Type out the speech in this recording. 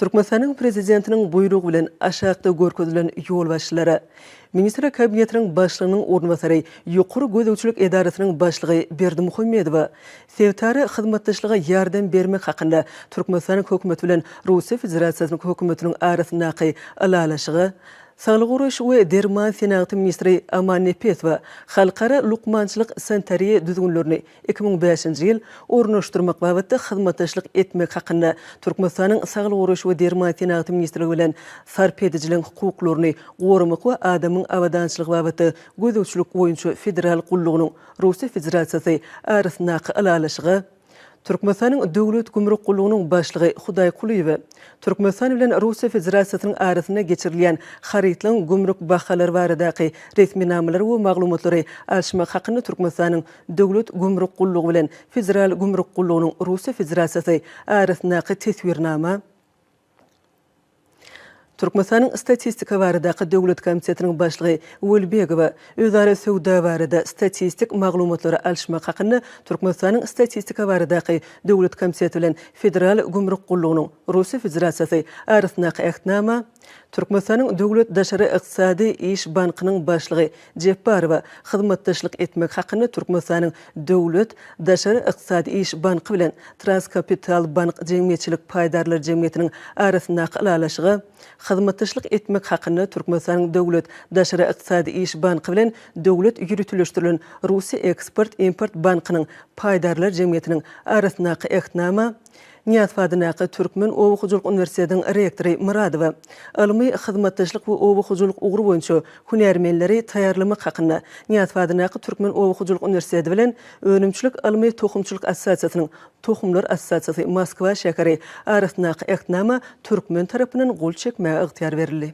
Türkmenistanyň Prezidentiniň buýrugy bilen aşakda görkezilen ýolbaşçylara, Ministrler Kabinetiniň Başlygynyň orunbasary, Ýokary gözegçilik edarasynyň başlygy Berdimuhamedowa sebitara hyzmatdaşlyga ýardam bermek hakynda Türkmenistanyň Hökümeti bilen Russiýa Federasiýasynyň Hökümetiniň arasyndaky Ylalaşyga, Saglygy goraýyş we derman senagaty ministri Amannepesowa halkara lukmançylyk-sanitariýa düzgünlerini Iki müň bäşinji ýyl Ornaşdyrmak babatda hyzmatdaşlyk etmek hakynda Türkmenistanyň Saglygy goraýyş we derman senagaty ministrligi bilen Sarp edijileriň hukuklaryny goramak we adamyň abadançylygy babatda gözegçilik boýunça federal gullugynyň Russiýa Federasiýasy arasyndaky ylalaşyga Türkmenistanyň Döwlet gümrük gullugynyň başlygy Hudaý Kulyýewe Türkmenistan bilen Russiýa Federasiýasynyň arasynda geçirilýän harytlaryň gümrük bahalary baradaky resminamalar we maglumatlary alyşmak hakynda Türkmenistanyň Döwlet gümrük gullugy bilen Federal gümrük gullugynyň, Russiýa Federasiýasy, arasyndaky Teswirnama, Türkmenistanyň Statistika baradaky döwlet komitetiniň başlygy Welibegowa, özara söwda barada statistik maglumatlary alyşmak hakynda Türkmenistanyň Statistika baradaky döwlet komiteti bilen Federal gümrük gullugynyň, Russiýa Federasiýasy, arasyndaky Ähtnama, Türkmenistanyň Döwlet daşary ykdysady iş bankynyň başlygy Jepbarowa hyzmatdaşlyk etmek hakynda Türkmenistanyň Döwlet daşary ykdysady iş banky bilen Traskapital bank jemgyýetçilik paýdarlar jemgyýetiniň arasyndaky ylalaşyga hyzmatdaşlyk etmek hakynda Türkmenistanyň Döwlet daşary ykdysady iş banky bilen Döwlet ýöriteleşdirilen Russiýa eksport-import bankynyň paýdarlar jemgyýetiniň arasyndaky Ähtnama Nyýazow adyndaky Türkmen oba hojalyk uniwersitetiniň rektory Myradowa, Ylmy hyzmatdaşlyk we oba hojalyk ugry boýunça hünärmenleri taýýarlamak hakynda, Nyýazow adyndaky Türkmen oba hojalyk uniwersiteti bilen Önümçilik ylmy tohumçylyk assosiasiýasynyň, Tohumlar assosiasiýasy, Moskwa şäheri, arasyndaky Ähtnama türkmen tarapyndan gol çekmäge ygtyýar berildi.